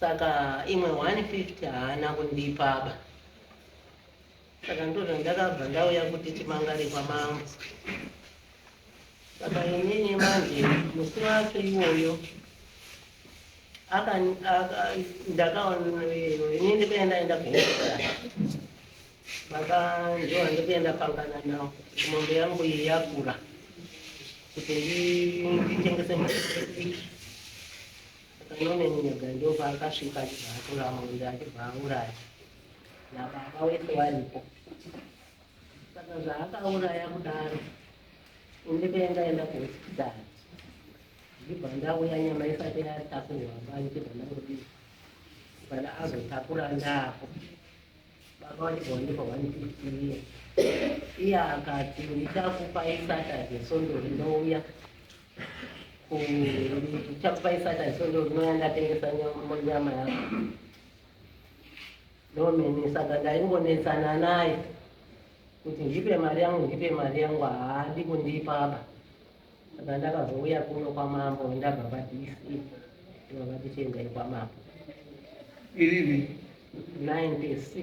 Saka imwe 150 haana kundipaba. Saka ndozvo ndakabva ndauya kuti timangare kwamambo. Saka inini manje musi wacho iwoyo ndakainini ndikuya ndaenda kuhospitari baba ndiwa ndikuenda pangana nawo kuti mombe yangu iyi yakura kuti nditengese mutiki Akaona nyoka ndopaakasvika achibva atora mombe achibva auraya nababa wese varipo. Saka zvaakauraya kudaro ine painga enda kuhospitari ndibva ndauya nyama isati yatakurwa bani chibva ndangodiwa kana azotakura ndako baba wachibva wandipa one fifty iye iye akati ndichakupai saturday sondori ndouya ndichakupa isaka isondo rinouya ndatengesa nyama yako ndomene saka ndaingonetsana naye kuti ndipe mari yangu ndipe mari yangu haadi kundipa apa saka ndakazouya kuno kwamambo ndabva padc ndobva tichiendai kwamambo irivi 96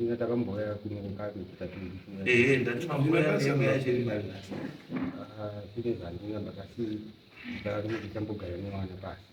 ndatakamboya kunokakutatindazvine zvandinga ndakasi ndakati ndichambogara nemwana pasi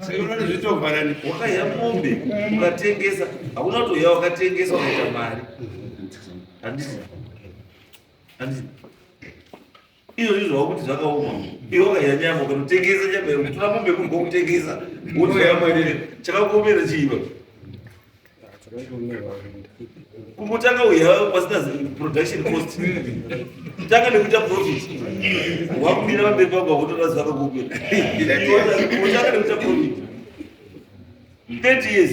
seurani zvitovharani wakaya mombe ukatengesa hakuna kuti uya wakatengesa ukaita mari handisi handisi izvo zvi zvava kuti zvakaoma iwe wakaya nyama ukanotengesa nyama yekutora mombe kuri kwakutengesa wotoya mari chakakuomera chiiva kungotanga uya pasina production cost tanga nekuita profit wakumira pamberi pako wakutora zuva kakupe tanga nekuita profit 30 years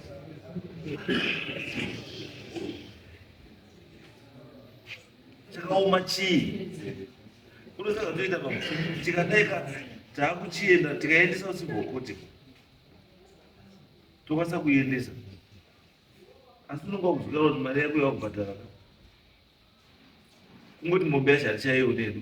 chakaoma chii kunosaka toita pa tikadaika taakuchienda tikaendesa usiku hwokuti tokwanisa kuiendesa asi unonga kuzvikara kuti mari yako yakubhadhara kungoti mombe yacho hatichaione hedu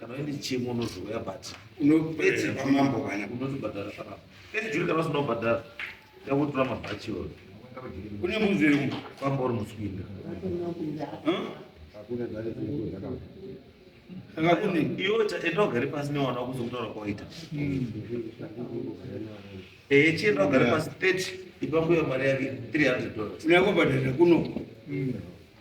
kana uine chimo unozouya but unopedza pamambo kana unotibhadhara kana pejuri kana usina kubhadhara yakutora mabhachi iwayo kune mbuzi iri kwamba uri muswinda iota enda ugare pasi newana wakuzokutaura kwawaita ehe eh, chienda ugare pasi 30 ipa mbuya mari yake 300 dollars unakobhadhara kuno